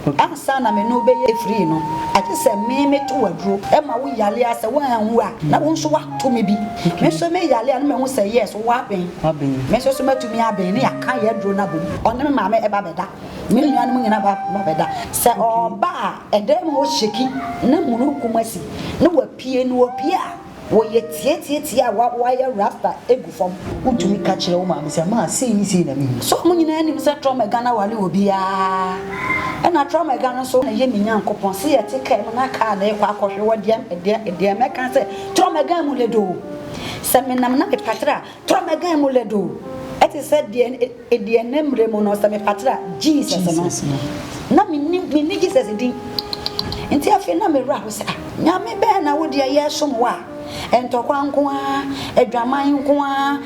Ansa na me ne wo bɛyɛ afiri no, agye sɛ me meto wo aduro. Ɛma wo yale a, sɛ woanwu a, na wo nso woato me bi. Me nso me yale a, na mahu sɛ yes, wowɔ aben. Me nso so mɛtumi aben, na yɛaka yɛn aduro no abom. Ɔne me maame ɛba bɛda. Me nuanom nyinaa ba bɛda. Sɛ ɔba a, ɛdan mu hɔ shake, na mununkum asi, na wapue. Na ɔpue a. Wɔyɛ tietie tie a wɔayɛ rasta gu fam. Wotumi ka kyerɛ wo maame sɛ maa sei ne sei na mehu. So mo nyinaa nim sɛ Trɔm Ɛga no aware obiara? Ɛna Trɔm Ɛga no nso yɛ me Nyankopɔn. Se yɛte kaa mu na kaa no rekɔ akɔhwe wɔ deɛ, deɛ, deɛ mɛka sɛ Trɔm Ɛga mu le do o. Sɛ menam na mepatre a, Tɔ m'agan mu lɛdo te sɛ deɛ deɛ nnɛ mmerɛ mu no sɛ mefatra Jesus no na menni menni Jesus din nti afei na mewura ho sɛ ah nyame bɛɛ na wo deɛ yɛsom wo a ntɔkwa nko ara adwaman nko ara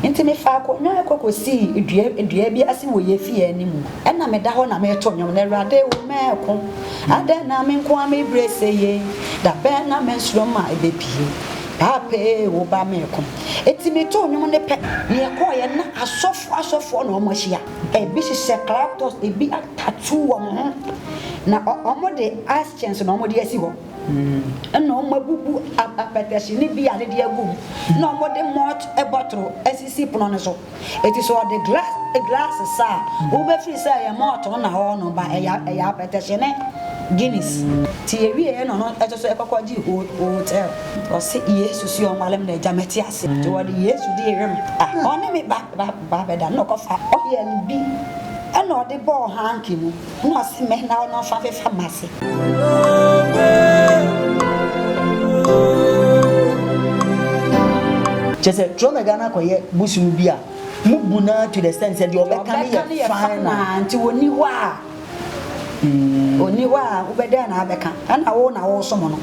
nti mefa akonnwa ɛkɔkɔ sii dua dua bi ase wɔ yɛ fie anim ɛna meda hɔ na meto nnwom na awurade wo mɛɛko adɛn na me nko ara me brɛ sɛ ye da bɛn na mɛsoro ma ɛbɛpie paapee wo ba mɛɛko Eti metoo nnwom no pɛ na yɛkɔeɛ na asɔfoɔ asɔfoɔ na wɔn ahyia. Ebi hyehyɛ claptors, ebi atatoo wɔn ho, na wɔn de ice chins na wɔn de asi hɔ. Ɛna wɔn abubu apɛtɛhye ne beer no de agu mu, na wɔn de malt bɔtoro asisi pono no so. Eti sɛ ɔde glass glass sa a, wobefiri sɛ ɛyɛ malt na ɔɔnom ba ɛyɛ ɛyɛ apɛtɛhye ne Guinness. Nti yɛwieeɛ na ɔno nso so ɛkɔ kɔgye ho hotel. Ɔse Yesu se ɔnwale me na agya mate ase. Nti wɔde Yesu de yere no. Ah ɔne me ba ba ba bɛda na ɔkɔfa oil bi ɛna ɔde bɔɔ hanky mu. Hom ɔsɛ me na ɔno so afefa m'ase. Kyerɛ sɛ trɔ na Ghana kɔyɛ bosom bi a mo bu no ara to the extent sɛ deɛ ɔbɛka no yɛ final. Nti ɔnni hɔ a ɔnni hɔ a wobɛ dɛn na abɛka ɛna wo na wosom no.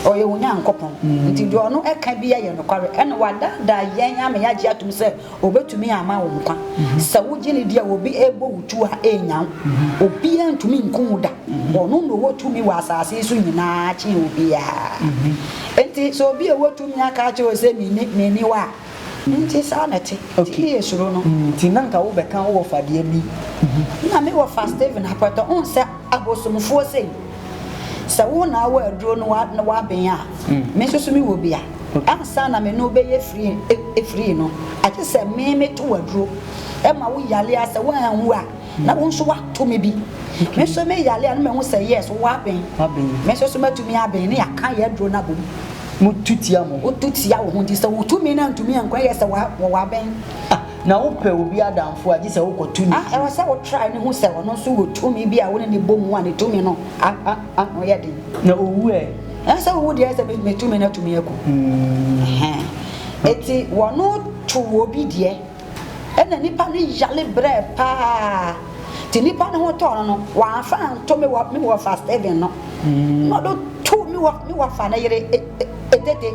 Ɔyɛ wo Nyankopɔn nti deɛ ɔno ɛka biara yɛ nokware ɛna wadaadaa yɛn ama yɛagye atom sɛ Obetumi ama wo nkwa. Sɛ wogye no di a, obi rebɔ wo tuo a, ɛrennya wo. Obiara ntumi nkum wo da. Ɔno na ɔwɔ tumi wɔ asase yi so nyinaa kyɛn obiara. Enti sɛ obi a ɔwɔ tumi aka akyerɛ wo sɛ minni, minni wo a, enti saa na ɛte. Enti ne yɛ suro no. Enti na anka wobɛka wo wɔfadeɛ bi. Na me wɔfa Stephen Akwɛtɔ. Wohu sɛ Abosomfoɔ sei, sɛ wo na awɔ aduro no na woaben a, me nso so mewɔ bi a, ansa na me ne wo bɛyɛ frii frii no, agye sɛ me meto wo aduro ma wo yale a, sɛ woanwu a, na wo nso woato me bi. Me nso me yale a, na mahu sɛ yes, woaben, me nso so matumi aben, na yɛaka yɛn aduro no abom. Motu tia mo ho. Wotu tia wo ho, nti sɛ wotu me na antumi anko a, ɛyɛ sɛ wɔaben. na wopɛ obi adamfo a, gye sɛ wokɔto ne ti. Ɛwɔ sɛ wotra ne ho sɛ ɔno nso wɔ tumi bi a wo ne no bɔ mu a ne tumi no ano yɛ den. Na owu ɛ? Sɛ owu deɛ, sɛ me tumi no atumi aku. Enti wɔno to obi deɛ, ɛna nipa no yale brɛ paa, nti nipa no ho tɔɔ no no, wamfa anto me wɔfa Stephen no, na ɔde too me wɔfa no yere Etete.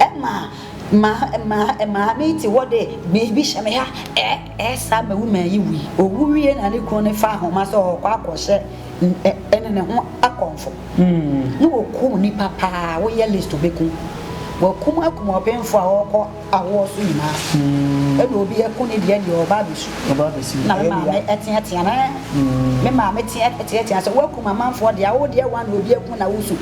Ɛma maa maame yi te hɔ de biribi hyɛ me ha, ɛ ɛ saa ma woman yi wui. Owu wie na ne kunu no fa ahoma sɛ ɔrekɔ akɔhyɛ ɛne ne ho akɔmfo. Na wɔkum nnipa paa, woyɛ list wobɛkum. Wɔakum akum ɔbenfo a ɔrekɔ awoɔ so nyinaa. Ɛna obi aku ne deɛ deɛ ɔreba abɛsu. Na me maame teatea no, me maame teatea sɛ woakum amanfoɔ deɛ a, wo deɛ one na obi aku na wosu.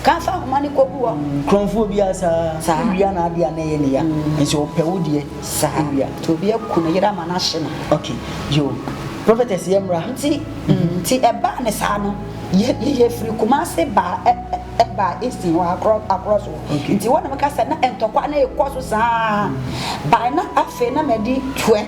Ka fa ahoma no kɔgu hɔ. Kurɔmfoɔ biara saa. Saa. Wia na adeɛ a na ɛyɛ ne ya. Nso ɔpɛ wo deɛ. Saa. Wia. Nti obi aku ne yere ama no ahye no. Okay. Yo. Prophetess yɛ mmra. Nti, nti ɛbaa ne saa no, yɛ, yɛ, yɛfiri Kumasi baa, ɛ, ɛ, baa Easton hɔ, akorɔ, akorɔ so. Okay. Nti hɔ na meka sɛ na ntɔkwa no rekɔ so saa. By na afei na madi 12.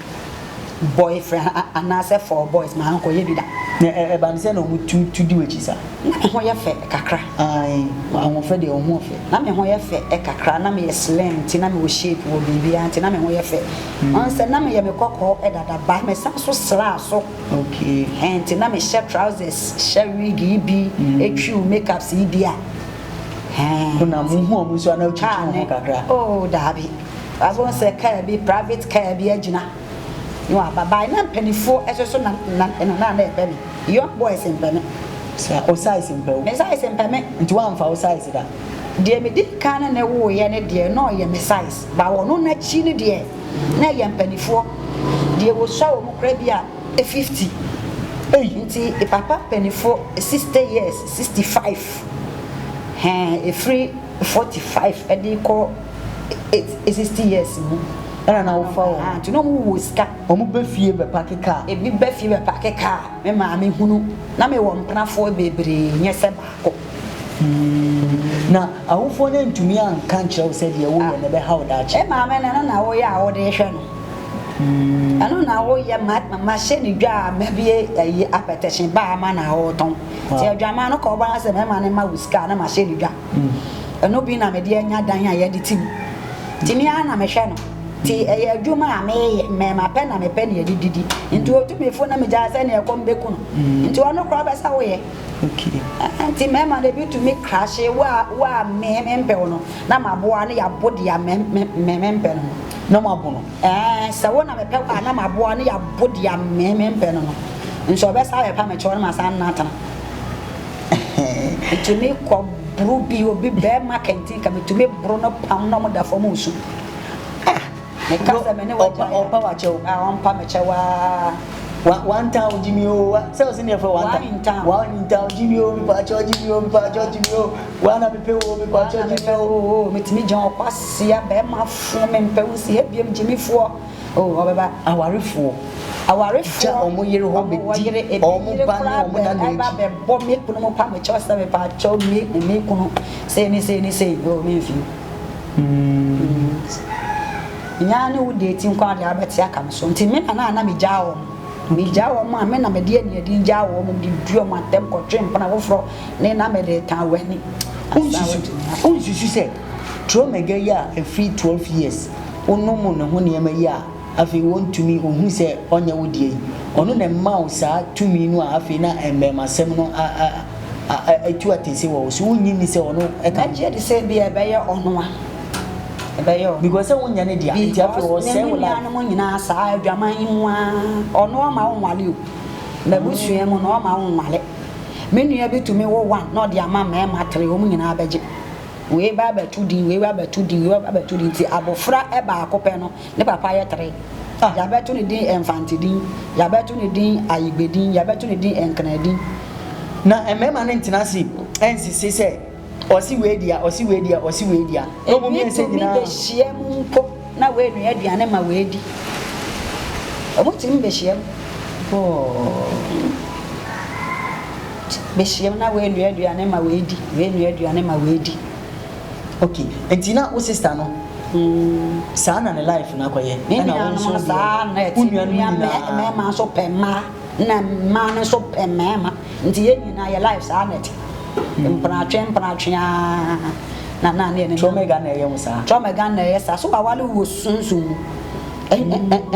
boy friend anaasɛ four boys maa nkɔ yɛ bi da. Na ɛba no sɛ na ɔmo tu tu di w'akyi sa. Na me ho yɛ fɛ kakra. Ae, ahoɔfɛ deɛ wo ho ɔfɛ. Na me ho yɛ fɛ kakra, na me yɛ slim nti na me wɔ shape wɔ biribiaa nti na me ho yɛ fɛ. Ɔn sɛ na me yɛ me kɔkɔɔ dada but me san so sraa so. Okay. Nti na me hyɛ trousers, hyɛ wig yi bi, twiw make ups yi bi a. Hɛn. Wo na mo hu ɔmo nso a na wo twitwi wo ho kakra. Aa ne oh daabi. Nanso wohu sɛ kaa bi, private kaa bi agyina na waba. By na mpanimfoɔ ɛso so na na na na na ɛpɛ me. Young boys mpɛ me. Sɛ wo size mpɛ wo. Me size mpɛ me. Nti woamfa wo size da. Deɛ medi kan ne no woeɛ no deɛ na ɔyɛ me size. But ɔno n'akyi no deɛ na ɛyɛ mpanimfoɔ. Deɛ wɔsua wɔn koraa bi a 50. Ei! Nti me papa mpanimfoɔ 60 years, 65. Hɛn ɛfiri 45 de rekɔ. eight sixty years mu ɛna na wofa wɔn nti na wɔn wɔ sika. Wɔn bɛ fie bɛ paki kaa. Ebi bɛ fie bɛ paki kaa me maame hunu na me wɔ mpenafoɔ bebree nyɛ sɛ baako. Hmm na awofoɔ no antumi anka nkyerɛ wo sɛ deɛ woyɛ no ɛbɛha wo daakye. Me maame no ɛno na woyɛ a wode hwɛ no hmm ɛno na woyɛ ma ma hyɛ ne dwa a ma bie ɛyi apɛtɛkyen baa ma na wotɔn. Wow. Ti adwaman no kɔ ɔbaa sɛ mɛma ne ma wo sika na ma hyɛ ne dwa. Ɛno bi na mede anya dan a yɛde te mu. Nti me ara na mehwɛ no. Nti ɛyɛ adwuma a meyɛ, mmarima pɛ na mepɛ nea yɛde didi. Nti otu me fo na migyaa sɛ nea ɛkɔm beku no. Mm. Nti ɔno koraa ɔbɛ sɛ woyɛ. Okay. Eh, nti mmarima na ebi tumi krahye wo a wo a me mempɛ wo no na maboa no yɛabo deɛ me me mempɛ no no. Na mo abo no. Ɛɛ eh, sɛ wo na mepɛ wo a na maboa no yɛabo deɛ me mempɛ no no. Nso ɔbɛsa bɛpa me kyɛw na masan no atena. Metumi kɔ boro bi obi bɛrima kɛntɛn ka metumi boro no pam na ɔmo da fam nsu. Ah, meka sɛ me ne wagya. Ɔmpa wakyɛw. Ah, ɔmpa mekyɛ waa. Wa wanta o Jimmy o wa sɛ o sɛ ne yɛfrɛ wanta. Wanta. Wanta o Jimmy o mepa akyɛw Jimmy o mepa akyɛw Jimmy o wa na mepɛ o mepa akyɛw Jimmy o. Metumi gyina ɔkwasia bɛrima fo me mpɛ wo si ebiem Jimmy foɔ. O, ɔbɛba. Awarefoɔ, gya wɔn yere hɔ bɛdi wɔn ba ne wɔn nana akyi. Ɛba bɛbɔ me kunu mu pa me kyɛw sɛ mepa kyɛw me ne me kunu sei ne sei ne sei. O, me mfi. Nyɛ ara ne wo date nko ara deɛ abɛte aka me so. Nti me nana a na me gyaa wɔn. Me gyaa wɔn a me na me de aniɛden gyaa wɔn, me de dii wɔn atɛm kɔtwee mpena foforɔ ne na me de tan w'ani. Wonsusu sɛ Tuomegya yi a ɛfiri 12 years wo no mu ne ho nneɛma yi a afei wɔntumi wɔhu sɛ ɔnyɛ wo deɛ yi, ɔno na ɛma wo saa tumi no a afei na mmarimasɛm no a a a a atu atɛse wɔ wo so. Wonnye nni sɛ ɔno ka ho? Mɛgye di sɛ ebia ɛbɛyɛ ɔno a ɛbɛyɛ ɔno. Because sɛ wonyɛ ne dea nti afei ɔsɛe wo life. Because ne nuanom nyinaa saa adwaman yi mu ara ɔno ɔma wo nwale o. M'abusua mu no ɔma wo nwale. Me nua bi tumi wo one na ɔde ama mmarima tre wɔn nyinaa bɛgye. Wei ba bɛto din, wei ba bɛto din, wei ba bɛto din nti abofra baako pɛ no, ne papa yɛ tere. Yɛabɛto no din Mfantedin, yɛabɛto no din Ayigbedin, yɛabɛto no din Nkenadin. Na mmarima no ntena ase nsisi sɛ, Ɔse wei dea, ɔse wei dea, ɔse wei dea, na wɔn mmiɛnsa nyinaa. Ebi tumi behyiam mpo. na woanoa aduane ma woadi. Wɔtumi ba hyiam bɔɔ ba hyiam na woanoa aduane ma woadi, woanoa aduane ma woadi. Okay, nti na wo sister no, mm. saa na ne life no akɔyɛ. Ne nuanom no saa na ɛte, nua mmarima nso pɛ mmaa. na mmaa no nso pɛ mmarima nti yɛn nyinaa yɛ life saa na ɛte mpenatwe mpenatwe aa na na ne ne tromega na ɛyɛ mu saa tromega na ɛyɛ saa so wawale wɔ sunsun mu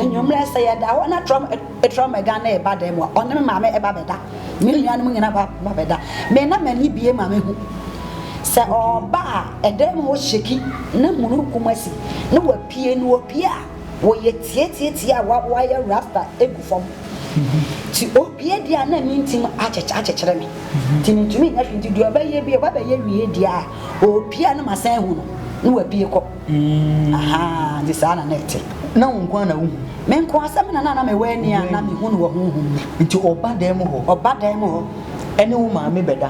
enyomlɛ sɛ yɛ da hɔ na trom tromega na ɛba dɛm a ɔne me maame ɛba bɛda me nuanom nyinaa ba ba bɛda me na m'ani bie ma me hu sɛ ɔba a ɛdɛm hɔ hyeki na mununkum asi na wapie no wapie a Wɔyɛ tietie tie a wayɛ rasta gu fam ti obia di a na me ntim akyekyere me ti me ntumi nyɛ hwee ti deɛ ɔbɛyɛ bi ɔbɛbɛyɛ wie di a ɔpie a na masan hu no na wapie kɔ mm. aha nti saa na na ɛte na wo nko na wohu me nko asɛm na na na mewɔ ani a na mehu no wɔ honhom mu nti ɔba dan mu hɔ ɔba dan mu hɔ ɛne wo maame bɛda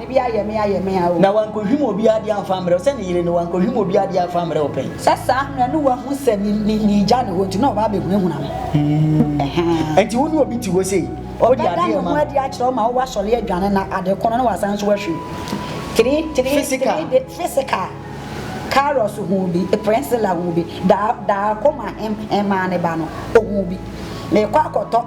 Ebi ayɛ me ayɛ me a o. Na wankohwim obiara adeɛ amfa ammrɛ wo sɛ ne yere no, wankohwim obiara adeɛ amfa ammrɛ wo pɛn. Sɛ saa no na ne wahu sɛ me me meegya ne hɔ nti na ɔba abɛhunahuna me. Hmm. Ɛhaa. Ɛnti wo ne obi te hɔ sei, wode adeɛ rema no. Ɔbɛda ne ho adi akyerɛ wo ma wo wasɔre adwane na ade kono na wasan nso ahwim. Three, three, Physical. three day, physical. Carlos hu bi, Prinsila hu bi, daa, daa koma hem, hemaa ne ba no, ɔhu bi. Meekɔ akɔtɔ.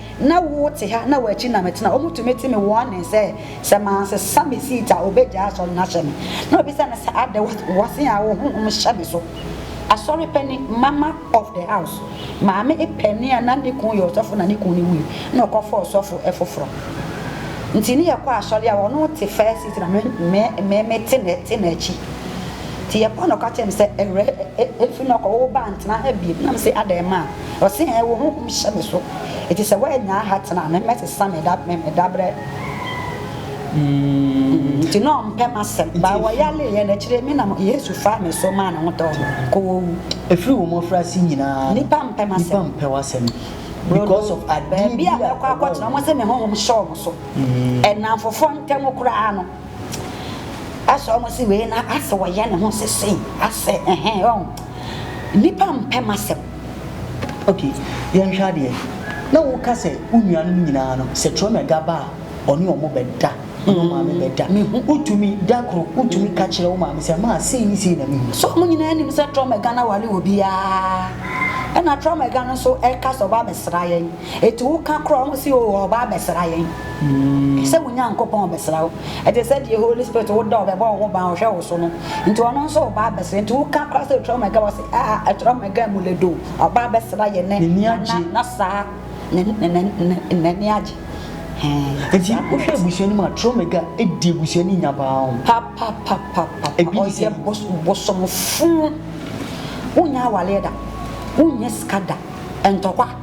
Na wo te ha na w'akyi na metena. Wɔn tumi te me wɔn nne sɛ, sɛ mansesa me seat a wɔbɛgyaa asɔre no ahyɛ me. Na wɔbisa no sɛ, Adɛ w'ase a wo honhom hyɛ me so? Asɔre panin, mama of the house, maame panin a na ne kun yɛ ɔsɔfo na ne kun no wui na ɔkɔfaa ɔsɔfo foforɔ. Nti ne yɛkɔ asɔre a ɔno te first seat na me me me te na te n'akyi. Nti yɛkɔ a na ɔka kyerɛ me sɛ, Awurɛ, ɛfiri na ɔkɔ wo ba ntena ha bio. Na mese, Adɛ ma a? Ɔse hɛn wo honhom hyɛ me so ntsi sɛ woannya aha tsena a me mɛsesa me da me dabrɛ mm ntsi na ɔmmpɛ m'asɛm baa wɔyaree hɛn ekyir me na mo Yesu faa me so maa no ho tɔɔ me kɔɔ owu. Ɛfiri wo mmɔfraase nyinaa no, nnipa mpɛ m'asɛm. Nnipa mpɛ w'asɛm because of adeɛ bi a ɛwɔ wo ho. Baabi a mɛkɔ akɔtena, wɔn sɛ me honhom hyɛ wɔn so. Nnamfofoɔ ntam koraa no. Asɛ ɔmo se wei na asɛ ɔyɛ ne ho se sei asɛ ɛhɛn wahu. Nnipa mpɛ m'asɛm. Ok, yɛnhwɛ adeɛ. Na wo ka sɛ wo nuanom nyinaa no sɛ Tuomega ba a ɔne ɔmo bɛ da, ɔne wo maame bɛ da. Me hu. Wo tumi, da koro, wo tumi ka kyerɛ wo maame sɛ maa sei ne sei na me hu. So ɔmo nyinaa nim sɛ Tuomega no aware obiara? Ɛna Tuomega no nso ɛka sɛ ɔba bɛ sra yɛn. Eti woka kora wɔn se, Oh, ɔreba abɛsra yɛn. Sɛ wo Nyankopɔn rebɛsra wo. Ɛte sɛ deɛ Holy Spirit wodɔ, ɔbɛbɔ wo ho ban, ɔhwɛ wo so no. Nti ɔno nso reba abɛsra yɛn. Nti woka kora sɛ otra mɛga, wɔse, Ah, atra mɛga mu lɛdo. Ɔreba abɛsra yɛn nnɛ. N'ani agye. Na saa na n'ani agye. Enti wohwɛ abusua no mu a, tra mɛga di abusua no nya paa o. Papapapapa. Ebi te sɛ. Ɔyɛ bosomfo. Wonyɛ awareɛ da. Wonyɛ sika da. Ntɔkwa.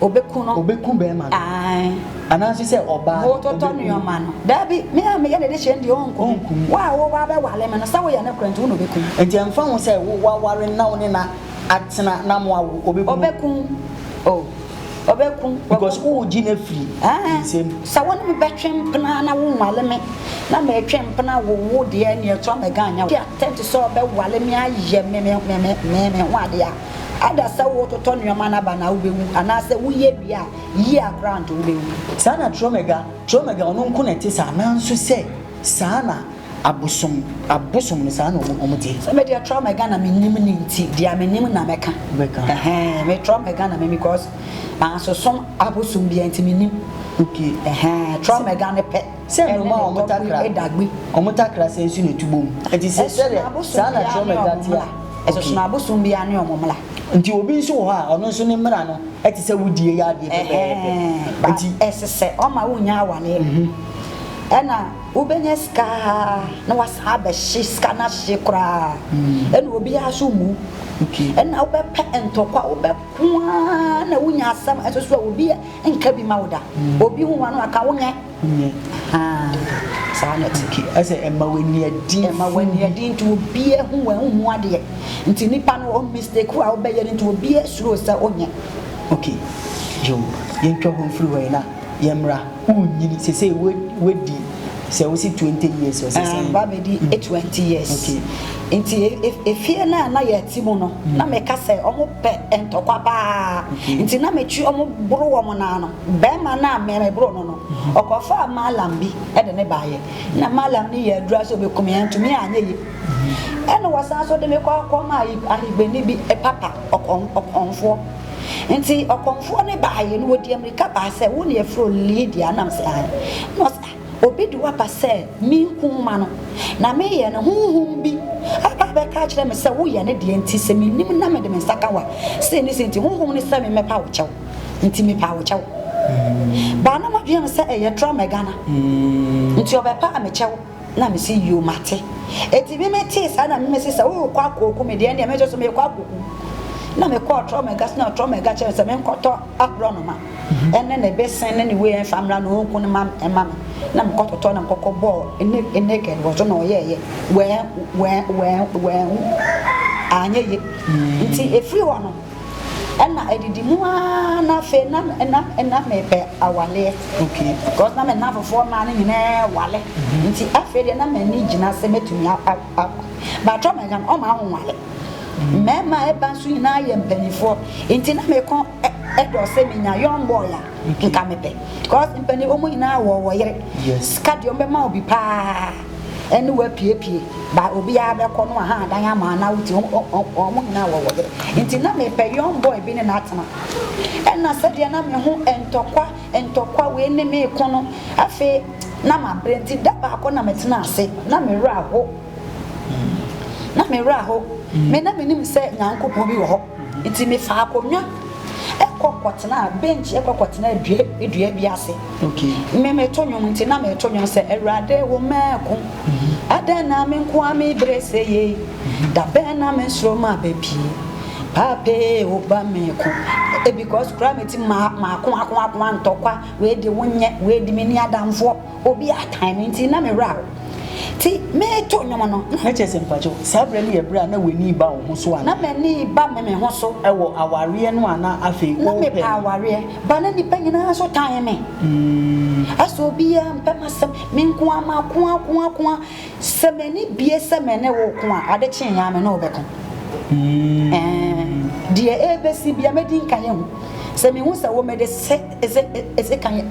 Obeku no. Obeku bɛɛma no. Ae. Anaase sɛ ɔbaa no, obeku no. Wototɔ nnoɔma no. Daabi, me a meyɛ ne dehyɛ no deɛ, ɔrenku me. Ɔrenku me. Wo a woreba abɛware me no, sɛ woyɛ nokorɛ nti, wo na obeku wo. Enti ɛmfa ho sɛ wo, woaware no na wo ne no atena na moawo, obeku wo. Obeku wo. Oh, obeku wo. Because woregye no afiri ne nsam. Ae. Sɛ wo ne me bɛtwe mpena na wonware me, na meretwe mpena awo wo deɛ, ɛnneɛ to a, mɛganyan wo. Wote atɛnte sɛ ɔbɛware me ayɛ me, me, me, me, me ho adeɛ a. Ada sɛ wo totɔ nnoɔma no aba no a wo bɛwu anaa sɛ wo yɛ wie a yie a koraa nto wo bɛwu. Saa na Tromega, Tromega ɔno nko na ɛte saa nanso sɛ saa na abosom, abosom no saa na ɔmo, ɔmo teɛ. Sɛ me deɛ Tromega na me nim no nti deɛ me nim na mɛka. Bɛka. Ɛhɛɛn me Tromega na me nim because mansosom abosom biara nti me nim. Okay. Ɛhɛɛn Tromega no pɛ. Sɛ nnomaa a wɔtakra wɔtakra sɛ nsu na ɛtu bɔ mu. Enti sɛ sɛdeɛ saa na trɔma agya te a, okay. Ɛsono abosom biara ne wɔn mmara. Enti obi nso wɔ hɔ a, ɔno nso ne mmara no te sɛ wo deɛ yɛ adeɛ pɛpɛɛpɛ. Ɛhɛɛ, Enti. ɛsesɛ ɔma wonya awareɛ. Ɛna wobɛnya sika aa na wasan abɛhye sika no ahye koraa. Ɛna obiara nso mmu. Okay. Ɛna wobɛpɛ ntɔkwa, wobɛko aa na wonya asɛm nso so a obi a. nka bi ma wo da obi hu wano aka wo nyɛ saa na ɛte ɛsɛ ɛma w'ani adi ɛma w'ani adi nti obiara hu wɔn hu adeɛ nti nipa no ɔn mistake a wobɛyɛ no nti obiara suro sɛ onyɛ ok yo yɛntwa ho mfiri hɔ yi na yɛmmra wonyini sɛ sɛ wadi sɛ wosi twenty years ɔsɛ sɛ. ɛɛ ba bɛdi mm. twenty years. okay nti e, e, efie no a na yɛte mu no mm. na meka sɛ ɔmo pɛ ntɔkwa paa nti na metwi ɔmo boro wɔn naa no bɛrima no a mɛmɛboro no no mm-hmm. ɔkɔfaa maalam bi ɛde ne baayɛ na maalam no yɛ adura sɛ ɔbɛkum yɛn ntumi anyɛ yie mm-hmm. ɛna wɔsan so de me kɔ akɔma ahigbani bi papa ɔkɔn ɔkɔnfoɔ. Ntsi ɔkɔmfoɔ no baeɛ no, ɔdii amirika baa sɛ, Wo na yɛfrɛ wo Lidia? Anam sɛ, Aane. Na ɔse, Ah, obi de wo aba sɛ menku wo ma no. Na meyɛ no, honhom bi aba abɛka akyerɛ me sɛ woyɛ ne deɛ, nti sɛ mennim na mede me nsa ka wo a, sei ne sei nti, honhom no sɛ me mmɛpa wo kyɛw, nti mepaa wo kyɛw. Baa na m'adwene yɛ me sɛ ɛyɛ torɔmɛga no, nti ɔbɛpaa me kyɛw. Na me se yoo mate. Enti me me tee saa na me me se sɛ wo rekɔ akɔ oku me deɛ ɛndeɛ me nso so me rekɔ akɔ ku. Na me kɔɔ Trɔmɛga so na Trɔmɛga kyerɛ me sɛ me nkɔtɔ aborɔnoma ɛne ne besen ne ne wei ɛnfa mmra na ɔnku no ma ɛma me. Na me kɔ tɔtɔɔ na me kɔkɔ bɔɔ ne ne naked wɔ so na ɔyɛɛ yɛ. Wɛɛ wɛɛ wɛɛ wɛɛ wɛɛ annyɛ ye. Nti ɛfiri hɔ no. Ɛna ɛdidi mu aa na afei na na na mepɛ awaleɛ okay because na me nnamfofoɔ mmaa no nyinaa wale mhm. nti afei deɛ na m'ani gyina sɛ mɛtumi awa but ɔma agya no ɔma ahonwale mhm. mmarima a ɛba nso nyinaa yɛ mpanimfoɔ nti na mekɔ ɛdɔ sɛ menya young boy a nka mepɛ because mpanimfoɔ mu nyinaa wɔ wɔ yere sika deɛ ɔmbɛma obi paa ɛne wo apiepie ba obiara bɛkɔ no aha adan ama ana wote wɔn nyinaa wɔ wɔyɛ nti na mepɛ young boy bi ne no atena ɛna sɛdeɛ na me ho ntɔkwa ntɔkwa wei ne me ko no afei na mabrɛ nti da baako na metena ase na me werɛ aho na me werɛ aho me na menim sɛ nyankopɔn bi wɔ hɔ Nti mefaa akonnwa kɔ kɔtenaa bench kɔ kɔtenaa dua dua bi ase. Me meto nnwom nti na meto nnwom sɛ Awurade wo mmɛɛko adɛn na me nko ara me brɛ sɛ yei da bɛn na me soro ma bɛ pie paapee wo ba me ko because koraa me ti ma ma ko ako ako antɔkwa wei de wo nyɛ wei de me ni adamfoɔ. Obi akan me nti na me werɛ ahow. Nti mereto nnwom no, na mekyerɛ sɛ mpakyɛw, saa berɛ no yɛ berɛ a na w'ani reba wo ho so anaa? Na m'ani reba me me ho so. Wɔ awareɛ no a na afei worepɛ no. Na mepɛ awareɛ, but na nnipa nyinaa nso tan me. Ɛsɛ obiara mpɛ m'asɛm, me nko ara mako ako ako a. Sɛ m'ani bue sɛ me ne wo reko a, ade kyeeɛ ara me ne wo bɛko. Ɛɛn, deɛ ɛrebɛsi biara mɛdi nkan ahu. Sɛ mehu sɛ wo mede sɛ, ese, ese kan.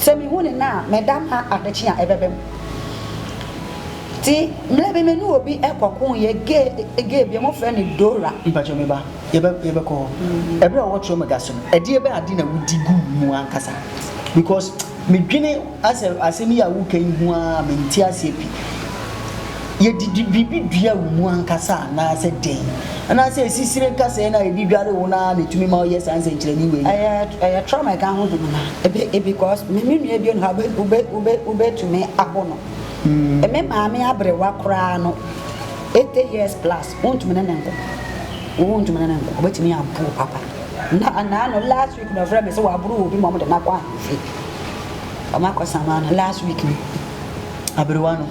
Sɛ mehu no nnɛ a, meda mma adekye a ɛbɛba mu. Nti mmerɛ bi me ne obi kɔko yɛ gay gay bi a wɔfrɛ no Dora. Mpakyɛ me ba, yɛbɛ yɛbɛkɔ hɔ. Ɛberɛ a ɔwɔ Tromega so no, ɛdeɛ bɛn ade na wodi guu mu ankasa? Because medwene asɛ asɛm yi a woreka yi ho ara a, mente aseɛ pi. Yɛde biribi dua wo mu ankasa anaasɛ dɛn? Anaasɛ asisire nkasɛɛ no a yɛde dware wo no ara na ɛtumi ma woyɛ saa nsɛnkyerɛnne wei? Ɛyɛ ɛyɛ trauma a ɛka honhom no ebi because me me nua bi no wobɛ wobɛ wobɛ wobɛtumi aho no. Me maame aberewa koraa no eighty years plus wontumi ne no nko. Wontumi ne no nko. Wobɛtumi abo wo papa. Na anaa no last week na ɔfrɛ me sɛ waboro wɔ bi ma wɔde no akɔ ahemfie. Wɔakɔ Samana last week no aberewa no.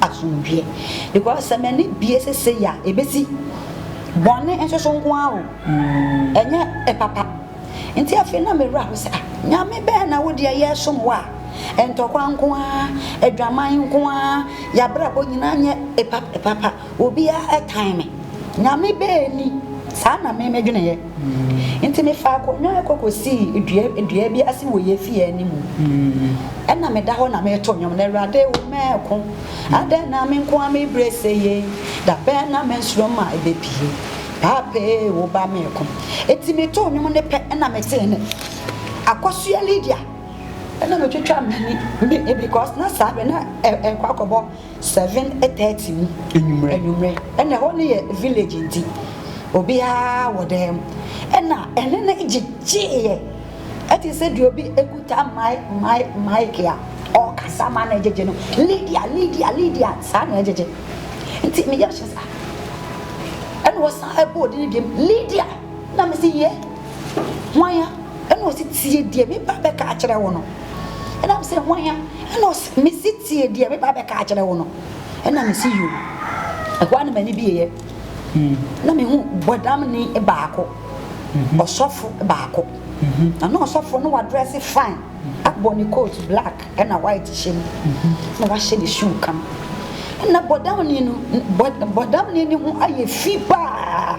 asomdwie because sɛ m'ani bie sesei a ɛbɛsi bɔne nso so nko ara o ɛnyɛ ɛpapa nti afei na mewura ho sɛ ah nyame bɛn na wo deɛ yɛsom wo a ntɔkwa nko ara adwaman nko ara yɛabrabɔ nyinaa nyɛ ɛpapa obiara ɛtan me nyame bɛn ni saa na memedweneɛ Enti mefaa akonnwa kɔ kosii dua dua bi ase wɔ yɛn fie anim. Ɛna meda hɔ na mereto nnwom na Awurade wo mɛko. Adɛn na me nko ara me brɛ sɛ yie? Da bɛn na me nsoromma ɛbɛpue? Paapa ee wo ba mɛko. Enti metoo nnwom no pɛ ɛna metee nne. Akosua Lydia. Ɛna metwitwaa m'ani because na saa berɛ na ɛrekɔ akɔbɔ Seven thirty mu anwummerɛ ɛna ɛhɔ no yɛ village nti obiara wɔ dan mu ɛna ɛne no gyegyeeɛ ɛte sɛ deɛ obi ekuta mai mai maik a ɔkasa ma na ɛgyegye no Lydia Lydia Lydia saa na ɛgyegye nti me yam hyɛ saa ɛna ɔsan ɛbɔ ɔde ne deɛm Lydia na me se yɛ hwan ya ɛna ɔsi tie deɛ me ba bɛka akyerɛ wo no ɛna me se hwan ya ɛna ɔsi me si Tie deɛ meba abɛka akyerɛ wo no. Ɛna mese Yoo. Ɛhɔ ara na m'ani bueeɛ, na mehu Bɔdamni baako, ɔsɔfo baako. Na na ɔsɔfo no wadrɛse fine, abɔ ne coat black ɛna white hyɛ mu, ɛna wahyɛ ne shoe kam. Ɛna Bɔdamni no, Bɔdamni no ho ayɛ fi paa,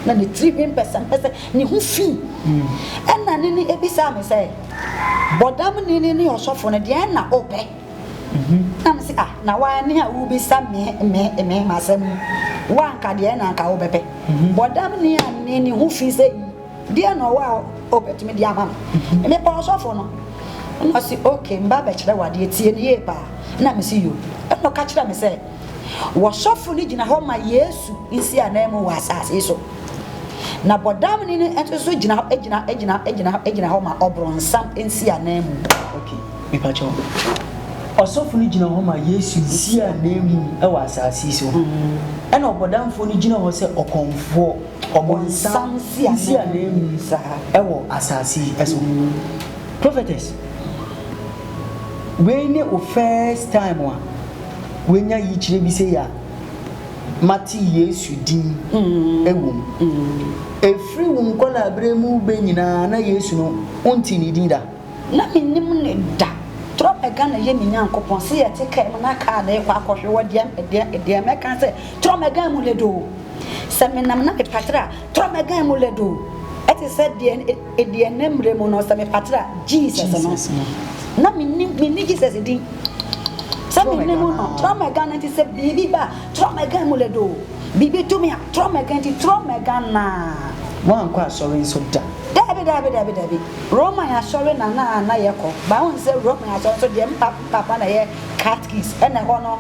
na ne tiri hwi mpɛsɛmpɛsɛ, ne ho fi. Ɛna ne no bisaa me sɛ. Bɔdamni no ne ɔsɔfo no, deɛn na wopɛ? Na mese, Ah, na woane a wobisa me me me m'asɛm yi, wo anka deɛn na anka wobɛpɛ? Bɔdamni annee ne ho fi sɛ, Yi, deɛn na ɔwɔ a wobɛtumi de ama me? Mepɛ ɔsɔfo no. Na ɔse, Ok, mba bɛkyerɛ wo adeɛ, tie no yie paa. Na mese, Yo. Ɛna ɔka kyerɛɛ me sɛ. Wɔsɔfo no gyina hɔ ma Yesu nsi ananmu wɔ asase so, na bɔdamni no nso so gyina hɔ gyina gyina gyina gyina hɔ ma ɔbronsam nsi ananmu. Okay, mepa kyɛw. Ɔsɔfo no gyina hɔ ma Yesu nsi ananmu wɔ asase so, mm-hmm. ɛna ɔbɔdamfo no gyina hɔ sɛ ɔkɔmfoɔ, ɔbɔnsam nsi ananmu wɔ asase so. Mm-hmm. Prophetess, wei ne o first time a. wanya yikyerɛ bi sei a, mate Yesu din wɔ mu. Ɛfiri wo nkwadaa-berɛ mu bɛ nyinaa, na Yesu no, wontee ne din da? Na mennim no da. Torɔ mɛga na yɛ me Nyankopɔn. Se yɛ te kaa mu na kaa no rekɔ akɔhwe wɔ deɛ, deɛ, deɛ mɛka sɛ, Torɔ mɛga mu lɛdoo. Sɛ menam na mepatire a, Torɔ mɛga mu lɛdoo. Ɛte sɛ deɛ. Ɛdeɛ nnɛ mmerɛ mu no sɛ me fatra Jesus no na me nim me ni Jesus din sɛ me nim no trɔ mɛga no nti sɛ biribi ba trɔ mɛga mu lɛ do biribi to me a trɔ mɛga nti trɔ mɛga naa. Woankɔ asɔre nso da? Daabi daabi daabi daabi Roman asɔre na na na yɛ kɔ but wohu sɛ Roman asɔre nso deɛ me papa na ɛyɛ catkis ɛna ɛhɔ no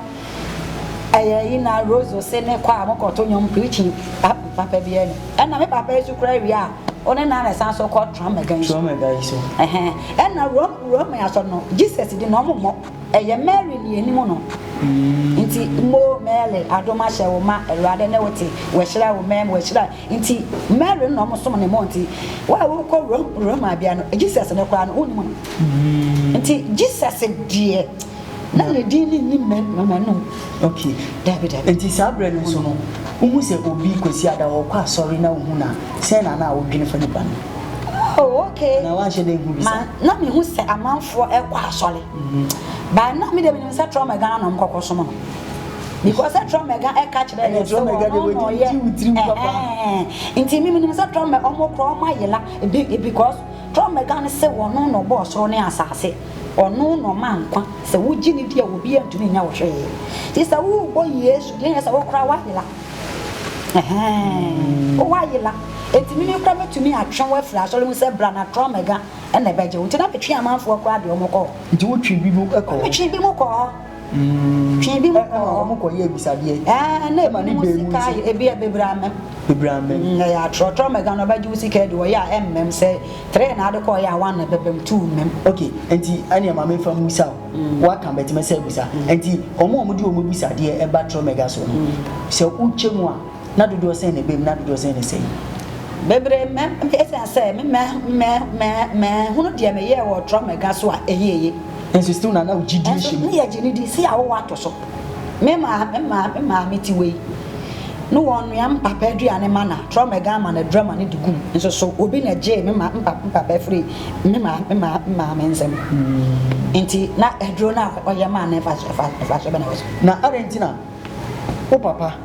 ɛyɛ yi na rose ose ne kɔ a mo kɔ to nwom preaching papa bi ɛna ɛna me papa nso kura wie a. Ɔne na na ɛsan so kɔ Trump Mɛga yi so. Trump Mɛga yi so. Ɛhɛn. Ɛna Rome Rome asɔ no Jesus di na ɔmo mmɔ. Ɛyɛ Mary ni anim no. Mm. Nti mo Mary adom ahyɛ wo ma Awurade ne wo te. Wɔahyira wo mɛm wɔahyira. Nti Mary no na ɔmo som ne mo nti. Wo a wokɔ Rome Rome abea no Jesus no koraa no wonnim no. Mm. Nti Jesus deɛ. Na ne din ne nyi mmɛ wɔ m'anom. Okay, dabi dabi. Enti saa berɛ no nso no, wohu sɛ obi Kwasi Ada ɔkɔ asɔre na wohu no a, sɛn na na wodwene fa nipa no? Oh, okay. Na woanhyɛ da nhu bi saa? Ma, na mehu sɛ amanfoɔ kɔ asɔre. But na me deɛ menim sɛ Trɔmɛga na na wɔkɔkɔ som no. Because sɛ Trɔmɛga ka kyerɛɛ yɛn sɛ ɔno na ɔyɛ, ɛhɛɛn. Nti me menim sɛ Trɔmɛ, wɔn kora wɔn ayera, because Trɔmɛga no se ɔno na ɔbɔɔ soro ne asase. Ɔno na ɔma nkwa. Sɛ wogye no di a, obiara ntumi nyɛ wo hwee. Nti sɛ worebɔ Yesu din a, ɛyɛ sɛ wo koraa woayera. Ɛhɛɛ, woayera. Enti meme koraa mɛtumi atwe wo afiri asɔre mu sɛ bra na trɔ mɛga na ɛbɛgye wo. Nti na metwe amanfoɔ koraa de wɔn kɔ hɔ. Nti wotwe binom kɔ hɔ? Metwe binom kɔ hɔ. Twi bi mu kɔ. Ɛna wɔn kɔ yɛ abisadeɛ. Ɛɛ na ebi mu sika yɛ ebi yɛ bebree amɛm. Bebree amɛm. Ɛyɛ atorɔtorɔ mɛga na ɔbɛgye wo sika adi wɔ yɛ a ɛmmɛm sɛ three na ade kɔɔ yɛ a one na ɛbɛbɛm two mmɛm. Ok nti ɛneɛ maame nfa mmusa o waka bɛtumi sɛ abusa nti wɔn a wɔde wɔn abisadeɛ ɛba torɔ mɛga soɔ no sɛ wotwa mu a. Nna dodoɔ sɛn na ɛbam na dodoɔ sɛn na ɛsɛe? Bebree mɛ mɛ ɛsiane sɛ me mɛ mɛ mɛ mɛhunu deɛ meyɛɛ wɔ Trump mɛga so a ɛyɛ eye. Nso still na na wo gyidie hyɛ mu. Nso meyɛ gyeni di si a wowɔ ato so. Me maa me maa me maa me ti wei. Ne wɔn nua me papa aduane ma na Trump mɛga ama na adura ma ne de gum. Nso so obi na gyee me maa me papa me papa afiri me maa me maa me maa me nsam. Nti na aduro na ɔyɛ maa na ɛfa ɛfa ɛfa so bɛ na ɛwɔ so. Na adɛn nti na wo papa.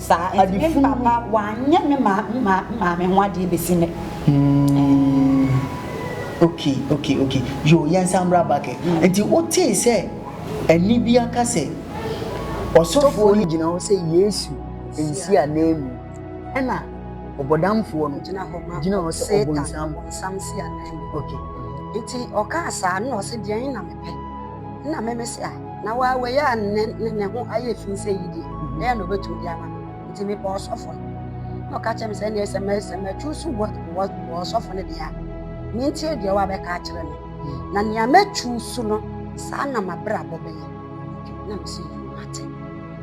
Saa nti me papa wanyɛ me maame ho adeɛ bɛsi nnɛ. Mmm okay okay okay yoo yɛnsan mmra back ɛ. Nti wotee sɛ ɛnne bi aka sɛ ɔsɔfoɔ no gyina hɔ sɛ Yesu nsi ananmu ɛna ɔbɔdamfoɔ no gyina hɔ ma gyina hɔ sɛ ɔbonsam ɔbonsam si ananmu okay. Nti ɔkaa saa na ɔse deɛn na mepɛ. Nna memese a, na waa wei a ne ne ho ayɛ fi sɛ yi deɛ, dɛn na ɔbɛtumi de ama me? Nti mebɔɔ ɔsɔfo no, na ɔka kyerɛɛ me sɛ, ɛnneɛ sɛ mɛ sɛ mɛtwuusu wɔ wɔ wɔ ɔsɔfo no deɛ a, mentie deɛ wabɛka akyerɛ me. Na nea mɛtwuusu no, saa na m'abrabɔ bɛyɛ. Na mese, Yiw, mate.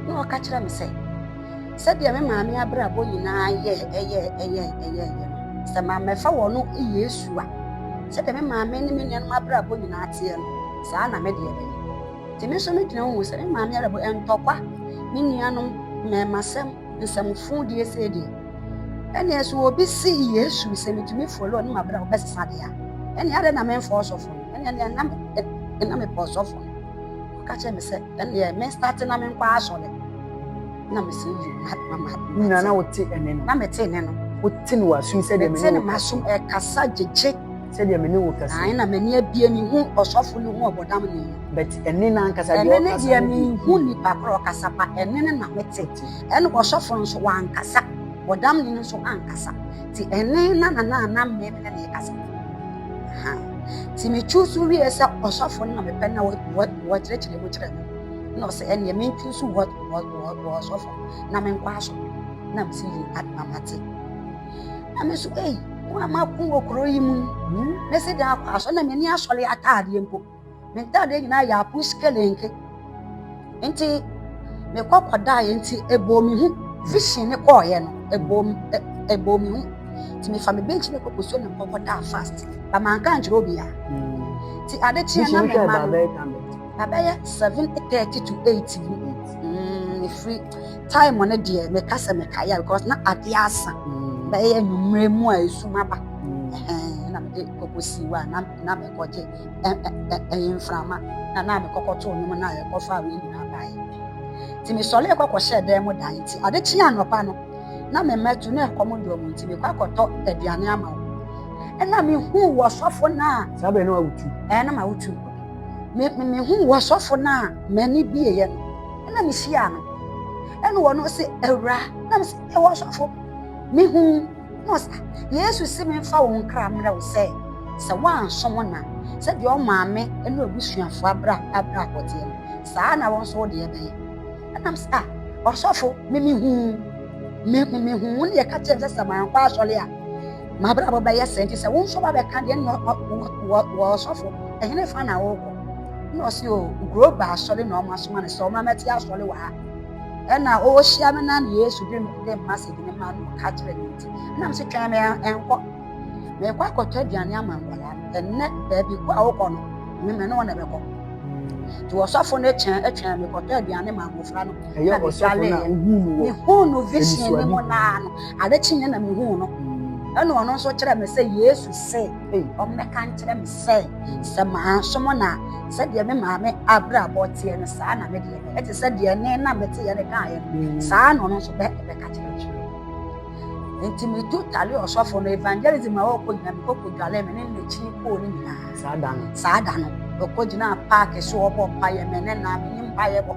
Na ɔka kyerɛɛ me sɛ. Sɛdeɛ me maame abrabɔ nyinaa yɛɛ ɛyɛɛ ɛyɛɛ ɛyɛɛyɛ no, sɛ mammɛfa wɔn Yesu a, sɛdeɛ me maame ne me nuanom abrabɔ nyinaa teɛ no, saa na me deɛ bɛyɛ. Nti me nso me gyina hu sɛ me maame abrabɔ ntɔkwa, me nuanom, mmɛɛmasɛm, nsɛmfodie sei deɛ. Ɛneɛ sɛ obi se Yesu sɛ metumi follow ne mabrabɔ bɛsesa deɛ a, ɛneɛ adɛn na memfa ɔsɔfo no? Ɛneɛ neɛ na me, na mepɛ ɔsɔfo no. ɔka kyerɛ me sɛ ɛneɛ me starte na menkɔ asɔre na mese yi nyina na wote ɛne no na mete ne no wote ne wasom sɛdeɛ mete ne masom ɛkasa gyegye sɛdeɛ mene wo kasa ae na m'ani abie mehu ɔsɔfo no hu ɔbɔdam ne yi but ɛne no ankasa deɛ ɛne ne deɛ mehu nipa korɔ ɔkasa ba ɛne ne na mete ɛne ɔsɔfo no nso wankasa ɔdam ne no nso ankasa ti ɛne na na na na mmɛmi na na ɛkasa nti me choose wiɛ sɛ ɔsɔfo no na mepɛ na wɔkyerɛkyerɛ mu kyerɛ me na ɔsɛ ɛneɛ me choose wɔ ɔsɔfo na menkɔ aso na mesi yi adoma mate na me so ei mo a mako wɔ kuro yi mu mɛsi dan akɔ aso na m'ani asɔre ataadeɛ mpo Me ntade nyinaa yɛ apus kelenke. Nti mekɔ kɔdaeɛ nti ɛbɔɔ me hu. Vision ne kɔɔeɛ no ɛbɔɔ me hu. Nti mefa me bench no kɔkɔsuo na mekɔ kɔdaa fast. Ba manka ankyerɛ obiara. Nti ade kyeɛ na me ma no. Babɛyɛ 7:30 to 8 mu. Mm, mefiri time no deɛ meka sɛ mekaeɛ because na adeɛ asa. Bɛyɛ anwummerɛ mu a ɛsum aba. Ɛna mede kɔkɔsi hɔ a na mekɔgye ɛyɛ mframa na na me kɔkɔ too nwom na yɛkɔ fa wei nyinaa baeɛ nti mesɔre kɔ kɔhyɛɛ dan mu dan nti ade kye anɔpa no na me mmɛto na ɛkɔm dɔɔ mu nti mekɔ akɔtɔ aduane ama wo ɛna mehu wɔ sɔfo no a saa bɛn no a wotu ɛɛ na ma wotu mehu wɔ sɔfo no a m'ani bieɛ no ɛna mehyia no ɛna wɔn no se awura na mesɛ ɛwɔ sɔfo mehu Mo sa, Yesu se memfa wo nkra mmerɛ wo sɛ, sɛ woanso wo na, sɛdeɛ ɔmaa me ne w'abusuafoɔ abrabɔdeɛ no, saa ara na wo nso wo deɛ bɛyɛ. Ɛnam sɛ, ah, ɔsɔfo, me mehuu, me, me, mehuu wo ne deɛ ɛka kyerɛ me sɛ sɛ mankɔ asɔre a, m'abrabɔ bɛyɛ sɛ, nti sɛ wo nso wabɛka deɛ ne wɔ ɔsɔfo, ɛhene fa na wokɔ? Na ɔse, o, Groba asɔre na ɔma soma no sɛ ɔma mɛte asɔre wɔ ha. Nna ohyia me na Yesu dwen me dɛ message no maa no ɔka kyerɛɛ me ntsi, nna mese twɛn me nkɔ. Merekɔ akɔtɔ aduane ama nkwadaa no, ɛnnɛ baabi ko a wokɔ no, me me ne wo na ɛbɛkɔ. Nti ɔsɔfo no kyɛn twɛn me kɔtɔ aduane ma mmofra no na megualeeɛ. Mehuu no vision no mu naa no, ade kyeeɛ na mehuu no. Ɛna ɔno nso kyerɛ me sɛ Yesu se ɔmmɛka nkyerɛ me sɛ sɛ mansom no a sɛdeɛ me maame abrabɔ teɛ no saa na me deɛ. ɛte sɛ deɛ ne na mete yɛ ne kaeɛ no saa na ɔno nso bɛ ɛbɛka kyerɛ kyerɛ nti metu tale ɔsɔfo no evangelism a ɔkɔ nyina mekɔ kɔdwale me ne n'akyi kɔɔ no nyinaa saa da no saa da no ɔkɔ gyina paake so ɔbɔ mpaeɛ me ne na menye mpaeɛ bɔ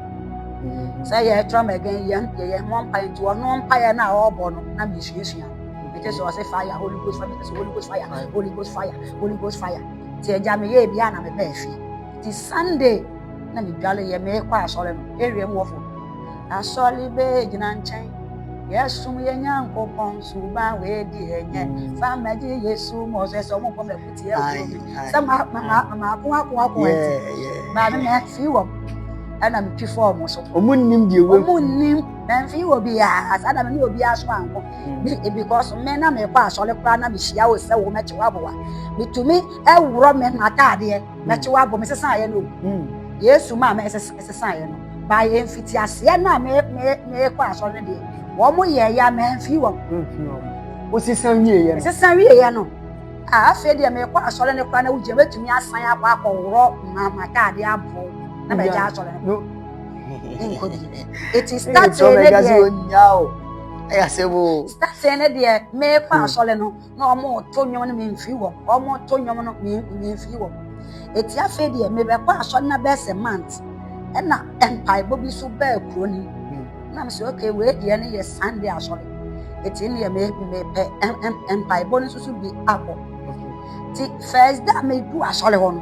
sɛ yɛtra ma ɛgɛn yɛn deɛ yɛn mmɔ mpaeɛ nti ɔno mpaeɛ no a ɔrebɔ no na mesuasua ɛkyɛ sɛ ɔse fire holy ghost fire sɛ holy ghost fire holy ghost fire holy ghost fire nti agya meyɛ bia na mebɛɛ fie nti sunday na medwaleeɛ meekɔ asɔre no ɛwie mu wɔfo asɔre bɛɛ gyina nkyɛn yɛsom yɛ nyankopɔn suba wei deɛ nyɛ mm. fa magye yesu ma ɔsɛ sɛ ɔmobɔ mafuteɛ kuro bi sɛ maako ako ako nti baame mafii wɔm ɛna metwi fɔɔ mo so ɔmo nnim deɛ wɔ ɔmo nnim mɛmfii wɔ biaa saa da me ne obiaa so anko mm. because me na mekɔ asɔre koraa na mehyia wo sɛ wo mɛkye woaboa metumi ɛworɔ me mataadeɛ na kyewa abɔ me sesaeɛ no yesu maa me ɛsesaeɛ no baa yɛ mfiti aseɛ no a mekɔ asɔre no deɛ wɔn mo yɛ ya mamfii wɔn wosesa wieɛ ɛsesa wieɛ no afei deɛ mekɔ asɔre no kora na wogyina mɛtumi asan akɔ akɔworɔ mamataadeɛ aboɔ na mɛgya asɔre no nkɔ bi ɛti statee ne deɛ ɛyɛ asɛm o statee ne deɛ mekɔ asɔre no na wɔreto nnwom no memfiri wɔn wɔreto nnwom no memfiri wɔn eti afei deɛ mebɛkɔ asɔre na bɛyɛ sɛ mant ɛna mpaebɔ bi so bɛɛ kuro no hmm. na mesɛ oke wei deɛ no yɛ sande asɔre eti deɛ mepɛ mpaebɔ no nso so bi abɔ ti fɛs da medu asɔre hɔ no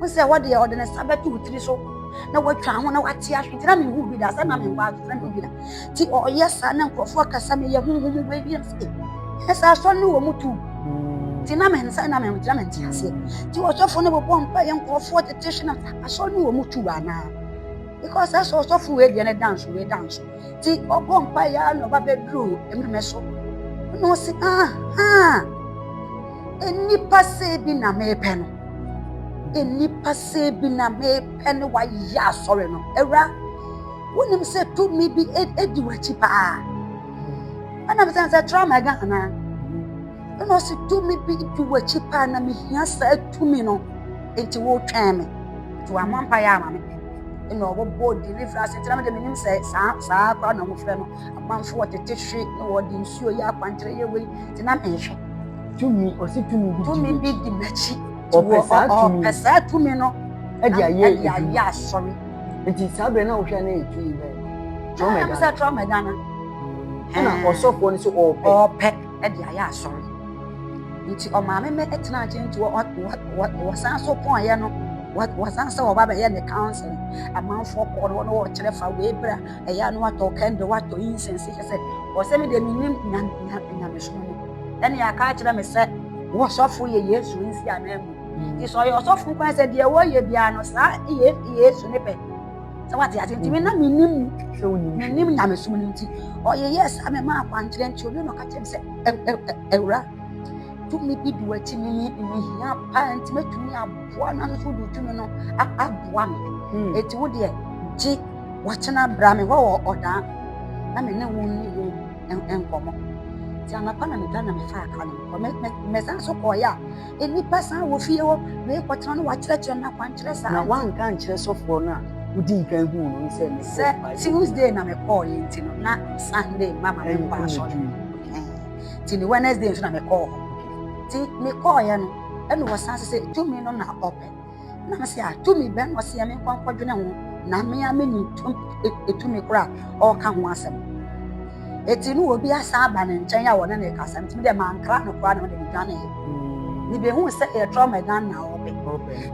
wo sɛ hɔ deɛ ɔde ne nsa bɛto wo tiri so na watwa ho na wate ahwe nti na mehu bi da sɛ na menkɔ adwo na mehu bi da nti ɔyɛ saa na nkurɔfoɔ kasa meyɛ honhom mu bɛwie no sɛ ɛsɛ asɔre no wɔ mu tu nti na mene sɛ na mente na mente aseɛ nti ɔsɔfoɔ no bɛbɔ mpa yɛ nkurɔfoɔ tete hwe na asɔre no wɔ mu tu anaa because ɛsɛ ɔsɔfoɔ wei deɛ ne danso wei danso nti ɔbɔ mpa yɛ ara na ɔba bɛduru mmɛmɛ so na ɔsi aha nnipa sɛ bi na mepɛ no nnipa sɛ bi na mepɛ no wayɛ asɔre no awura wonim sɛ tumi bi edi w'akyi paa ɛna bisɛ sɛ tra mɛga anaa. Ɛna ɔsi tumi bi di w'akyi paa na mehia saa tumi no nti wotwɛn me nti wamɔ mpa yɛ ama me ɛna ɔbɔbɔ deliverance nti na mede menim sɛ saa saa kora na wɔfrɛ no amanfo wɔtete hwe na wɔde nsuo yɛ akwankyerɛ yɛ wei nti na mehwɛ tumi ɔsi tumi bi tumi bi di m'akyi ɔpɛ saa tumi no ɛde ayɛ asɔre nti saa berɛ na wohwɛ na ɛyɛ tumi bɛɛ trɔmɛdana ɛna ɔsɔfoɔ no sɛ ɔpɛ de ayɛ asɔre. Nti ɔmaame me tena agye nti wɔsan so pɔnyɛ no wɔsan sɛ wɔba bɛyɛ ne counseling amanfoɔ kɔɔ no wɔne wɔkyerɛ fa wei bra ɛyɛ ano atɔ kɛndɛ watɔ incense kyɛ sɛ ɔsɛ me deɛ menim nyamesom mu ɛne aka akyerɛ me sɛ wɔsɔfo yɛ yesu nsi anaa mu nti sɛ ɔyɛ ɔsɔfo kwan sɛ deɛ wɔyɛ biara no saa yesu ne pɛ sɛ wate ase nti me na menim menim nyamesom no nti ɔyeyɛ saa mema akwankyerɛ nti ɔne na ɔka kyerɛ me sɛ awura tumi bi de wakyi me mehia paa nti mɛtumi aboa no ano so wode tumi no aboa me ɛti wo deɛ gye wakyena bra me hɔ wɔ ɔdaa na me ne wo nni ho nkɔmmɔ nti anapa na meda na mefaa ka no mɛsan so kɔɔyɛ a nnipa san wɔ fie hɔ na yɛkɔtena no wakyerɛkyerɛ no akwankyerɛ saa na wanka nkyerɛ sɔfoɔ no a wodii kan huu no no sɛ sɛ tuesday na mekɔɔyɛ nti no na sunday ma ma menkɔ asɔre nti ne wednesday nso na mekɔɔ hɔ nti mekɔɔyɛ no ɛna wɔsan sɛ tumi no na ɔpɛ na me se a tumi bɛn na ɔseɛ me nkɔ nkɔdwene ho na me a menim tumi kora a ɔreka ho asɛm ɛti no obi asan aba ne nkyɛn a wɔne ne kasa ntumi dɛ mankra no koraa na ɔde ne dwane mebɛhu sɛ yɛ trauma dan na ɔbɛ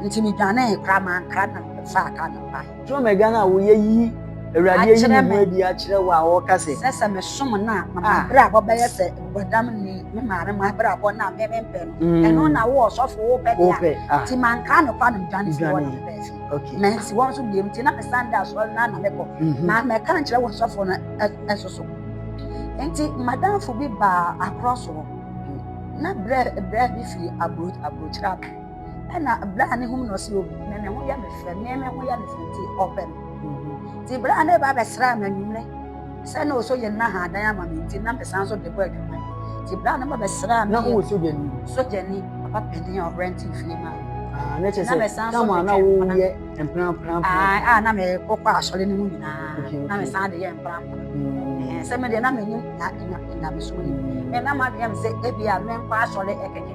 nti medwane koraa mankra na fa ka no bae Dwom agya no a woyɛ yi Awurade ayi ne ho adi akyerɛ wo a ɔka sɛ. Sɛ sɛ mesom no a, ma m'abrabɔ bɛyɛ sɛ bɔdam ni, me maame m'abrabɔ no a me mempɛ no. Mm. Ɛno na wo ɔsɔfo wopɛ de a, ah. nti mankaa no kwa no dwane fie hɔ na mebɛɛ fie. Mansi wɔn so biam nti na mesan da asɔre no na mekɔ. Mhm. Na mɛka nkyerɛ wɔ sɔfo no ɛso so. Nti madamfo bi baa akorɔ soɔ na berɛ bi firi aburokyerɛ aba. ɛna berɛ a ne hom na ɔse obi me me ho yɛ me fɛ me me ho yɛ me fɛ nti ɔpɛ me nti berɛ a ne ba bɛsraa me anwummerɛ sɛ na ɔsɔ yɛ nna haadan ama me nti na mesan so de bɔ adwuma nti berɛ a ne ba bɛsraa me na ɔwɔ sogyani sogyani papa panin a ɔrɛnte fie ma na kyɛ sɛ tam a na woyɛ mprapramprapra a na mekɔkɔ asɔre no mu nyinaa na mesan de yɛ mprapra sɛ medeɛ na menim nyamesom no me na madwene me sɛ ebia menkɔ asɔre ɛkɛkɛ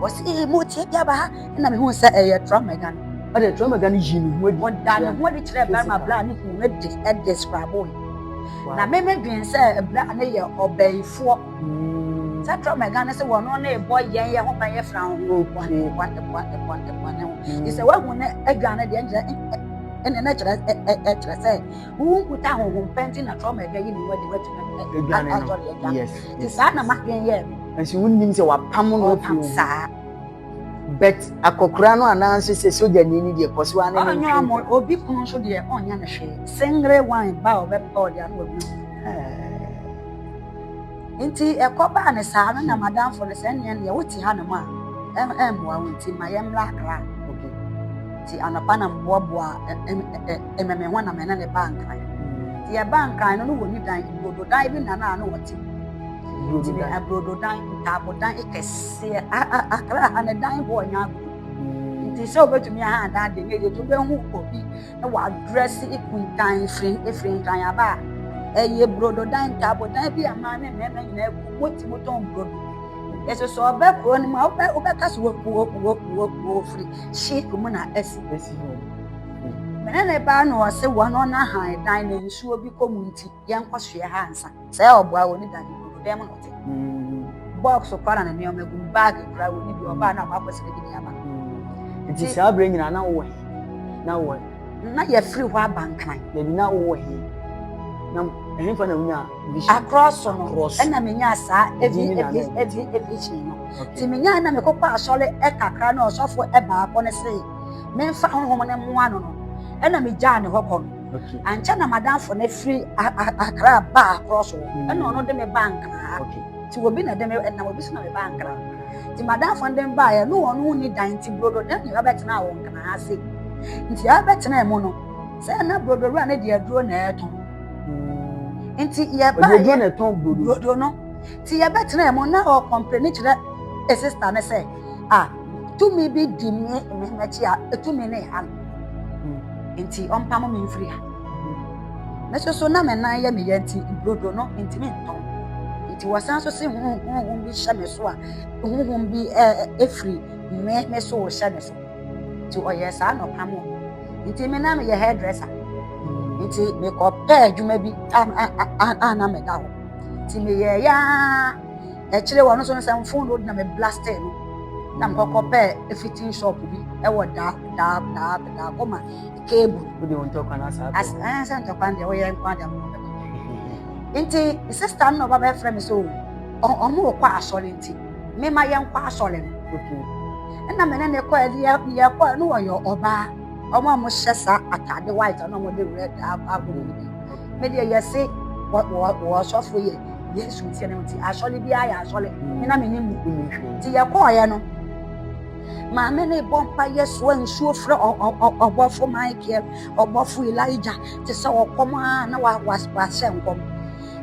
wɔsi ee mo tie bi aba ha ɛna mehu sɛ ɛyɛ trɔma gya no ɔde trɔma gya no yi ne ho adi ɔda ne ho adi kyerɛ bɛrima bla ne kunu no de ɛde skrabo na meme dwen sɛ bla ne yɛ ɔbɛyifoɔ sɛ trɔma gya no sɛ wɔn no ne bɔ yɛn yɛ ho ban yɛ fra ho ɛboa ne ɛboa ɛboa ɛboa ɛboa ne ho ɛsɛ wahu ne adwa no deɛ nkyerɛ ɛne ne kyerɛ ɛkyerɛ sɛ Wo nkuta honhom pɛ nti na trauma bi ayi ne ho adi watumi adwane no. Yes. Ti saa na madwen yɛɛ me. Nso wonnim sɛ wapam no afi wo saa. But akɔkora no anaasɛ sɛ sogyani no deɛ kɔ so ane ne mfiri. Ɔnyɛ obi kunu nso deɛ ɔnyɛ ne hwee. Singre wine ba a ɔbɛpɛ ɔde ano wɔ bi. Nti ɛkɔbaa no saa no na madamfo no sɛ ɛnneɛ neɛ wote hanom a ɛmmoa wo nti ma yɛmmra Accra okay nti anɔpa na meboaboa ɛmɛ me ho na me ne ne baa Nkran nti yɛbaa Nkran no no wɔ ne dan brododan bi na na na ɔte mu nti ne brododan ntaabodan kɛseɛ Accra ha ne dan hɔ ɔnyɛ agorɔ nti sɛ wobɛtumi aha adan deɛ nyɛ yie nti wobɛhu obi wɔ address Ekuntan firi efiri Nkranyaba a ɛyɛ brodo dan ntaabo dan bi a mmaa ne mmarima nyinaa gu mu ti mu tɔn brodo yɛsɛ sɛ ɔbɛ kuro no mu a wobɛ wobɛka so wɔ kuo kuo kuo kuo firi hye mu na ɛsi ɛsi hɔ mene ne baa na ɔse wɔn ɔna han dan na nsuo bi kɔ mu nti yɛnkɔ so yɛ ha ansa. Sɛ yɛ ɔboa wɔ ne dade mu, ɔbɛn mu na ɔte. Box kora na ne nneɛma gu mu, bag kora wɔ ne bi, ɔbaa na ɔkɔ akɔsɛ ne bi de aba. Nti saa berɛ nyinaa na wowɔ he? Na wowɔ he? Na yɛfiri hɔ aba nkran. Dabi, na wowɔ he? Na ɛhefa na wonya vision? Akorɔ so no, ɛna menya saa evi evi evi evision no. Nti menya na mekɔkɔ asɔre kakra na ɔsɔfo baako no se, memfa honhom no mmoa no no, ɛna megyaa ne hɔ kɔ no. ankyɛ na madamfo no firi akra ba akorɔ so ɛna ɔno de me ba nkraa nti obi na de me ɛnam obi so na me ba nkraa nti madamfo no de me baeɛ ne wɔn ho ni dan nti brodo ne ne abɛtena wɔn nkraa ase nti abɛtena mu no sɛ na brodo wura ne deɛ aduro na ɛtɔn hmm. nti yɛbaeɛ brodo no nti yɛbɛtena mu na ɔkɔmpere ne kyerɛ sista no sɛ ah tumi bi di ne ne n'akyi a etumi ne ha no hmm. nti ɔmpam me mfiri ha hmm. me soso na me nan yɛ me yɛ nti brodo no ntumi ntɔn nti wɔsan so se huhum bi hyɛ me so a huhum bi efiri me me so hyɛ ne so nti ɔyɛ saa na ɔpam me nti me na meyɛ hairdresser hmm. nti mekɔ pɛ adwuma bi a na meda hɔ nti meyɛ yaa. akyire wɔn nso no sɛ mfon no na me blaste no na mekɔkɔ pɛ fitting shop bi ɛwɔ da da da da kɔma cable. o de o ntɔkwa na saa. as ɛn eh, sɛ ntɔkwa deɛ o yɛ nkwa deɛ mo bɛ nti sista no na ɔba bɛfrɛ mi sɛ o ɔmo wɔ kɔ asɔre nti me ma yɛn kɔ asɔre no ɛna mene ne kɔ ɛde yɛ yɛ kɔ ɛno wɔyɛ ɔbaa ɔmo a mo hyɛ saa ataade white ɛna ɔmo de red abɔ ɔmo bi. Me deɛ yɛse wɔ asɔfo yɛ Yesu nti no nti asɔre biara yɛ asɔre me na menim mu nti yɛkɔɔeɛ no maame ne bɔ mpa yɛ soa nsuo frɛ ɔbɔfo Michael ɔbɔfo Elijah te sɛ ɔkɔm a na wahyɛ nkɔm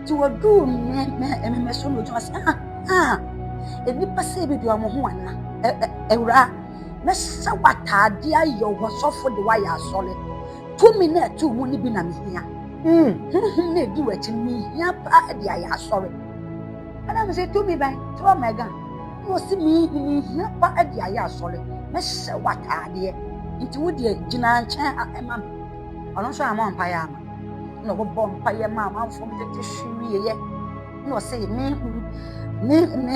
nti wɔduu mmɛmɛ so no gyina sɛ ah ah nnipa sɛ bi de ɔmo ho ana awura mɛsɛ w'ataadeɛ ayɛ wɔ sɔfo de wayɛ asɔre Tumi na ɛto mu no bi na mehia. Mm. Honhom na ɛdi w'akyi no mehia paa de ayɛ asɔre. Ɛna me sɛ tumi bɛn trɔ mɛga na ɔsi mehia paa de ayɛ asɔre mɛhyɛ w'ataadeɛ nti wo deɛ gyina nkyɛn ha ɛma me ɔno nso ama mpaeɛ ama na ɔbɛbɔ mpaeɛ ma amanfoɔ no tete hwewieɛ na ɔsɛ mehunu me me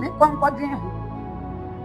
me kɔnkɔdwen ho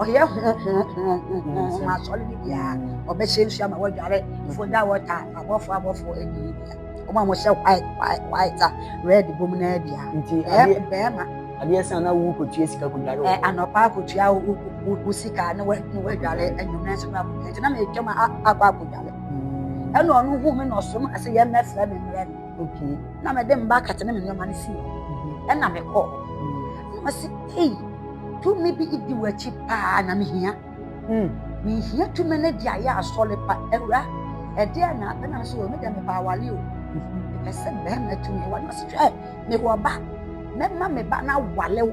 ɔyɛ hohohohohoho asɔre no biara ɔbɛhyɛ nsu ama wɔadware fo da wɔta abɔfo abɔfo ɛne yi bia ɔmo a wɔhyɛ white white white a red bom no bia nti adeɛ bɛrima adeɛ san na wo kɔtua sika kɔdware ɛ anɔpa akɔtua wo sika ne wɔadware anwummerɛ nso no akɔtua nti na metwam akɔ akɔdware ɛna ɔno hu me na ɔsom ase yɛ mmɛfrɛ me mmerɛ no Okay. Na mede mba akata ne me nneɛma no si ɛna mekɔ. Na wɔsi ei tumi bi di w'akyi paa na mehia. Hmm. Mehia tumi no de ayɛ asɔre pa awura ɛdeɛ na apɛ na so wɔ me dɛ mepɛ awale o. Mepɛ sɛ bɛrima tumi wɔ na ɔsi hwɛ mewɔ ba mɛma me ba no awale o.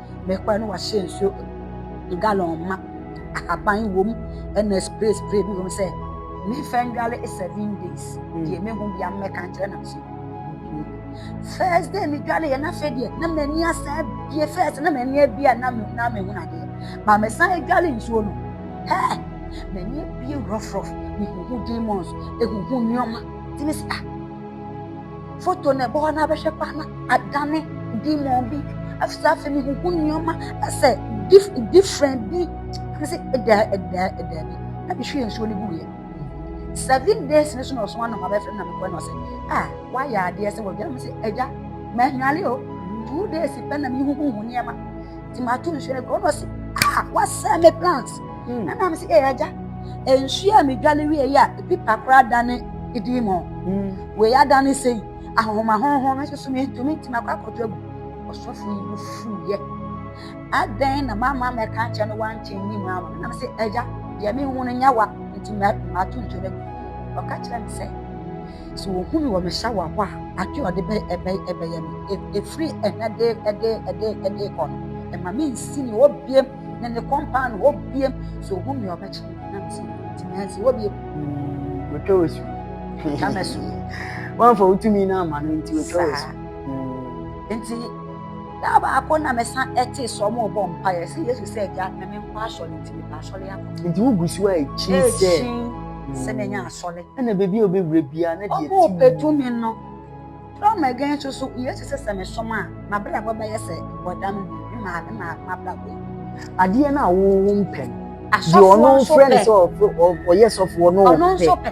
mɛkora na wahyɛ nsuo galɔn ma ahaban wɔ mu ɛna spray spray bi wɔ mu sɛ mefa ndwale seven days deɛ mehu bia mmɛka nkyerɛ nam so first day medwale yɛ n'afɛ deɛ na m'ani asan abie first na m'ani abie a na mehu nadeɛ ma mesan adwale nsuo no hɛɛ m'ani abie rɔfrɔf mehuhu demons ehuhu nneɛma tumi sa. foto na ɛbɔ hɔ na abɛhwɛ koraa na adane demon bi afisa afei mehuhu nneɛma asɛ dif different bi ɛne sɛ ɛda ɛda ɛda bi na mehwie nsuo no guiɛ seven days ne so na ɔso anam abɛfrɛ na mekɔɛ na ɔsɛ a ah, woayɛ adeɛ sɛ wɔdwa me sɛ agya mahwale o two days pɛ na mehuhuhu nneɛma nti mato nsuo no gu ɔno ɔsi ah wasɛn me plants hmm. ɛna mi si ɛyɛ agya nsuo a medwale wie yi a ebi pa koraa da ne edi mu hmm. wei ada ne sɛn ahoma honhom no soso mi ntumi ntumi akɔ akɔtɔ agu ɔsɔfo yi mu fuu yɛ adɛn na mama mɛka nkyɛn no wankyɛn ni mu ama na mi si ɛgya deɛ mi hu no nya wa nti mato nsuo no gu ɔka kyerɛ mi sɛ. Sɛ wɔhu me wɔ me shower hɔ a, ade a ɔde bɛyɛ me, e, ɛfiri ɛna de de de de kɔ no, ɛma me nsi ne hɔ biem, ne ne kɔmpaa ne hɔ biem. Sɛ ɔhu me ɔbɛkye me, na me sɛ ntumi ansi hɔ biem. Wɔtwa wɔ su. Wɔtwa me su. Wɔamfa wo tumi no ama no nti wɔtwa wɔ su. Nti Da baako na mesa tee sɛ wɔrebɔ mpaeɛ sɛ Yesu sɛ agya na menkɔ asɔre nti mekɔ asɔre akɔ. Nti wogu so a ɛkyin sɛ. Ɛkyin sɛ menya asɔre. Ɛna baabi a wobɛwura biara na deɛ ɛte mu. Wɔpɛ tumi no. From again nso so Yesu sɛ sɛ mesom a m'abrabɔ bɛyɛ sɛ bɔda no mu ne maame ma m'abrabɔ yi. Adeɛ no a wo wo mpɛ no. Asɔfoɔ nso pɛ. Deɛ ɔno frɛ no sɛ ɔyɛ sɔfoɔ no ɔpɛ. Ɔno nso pɛ.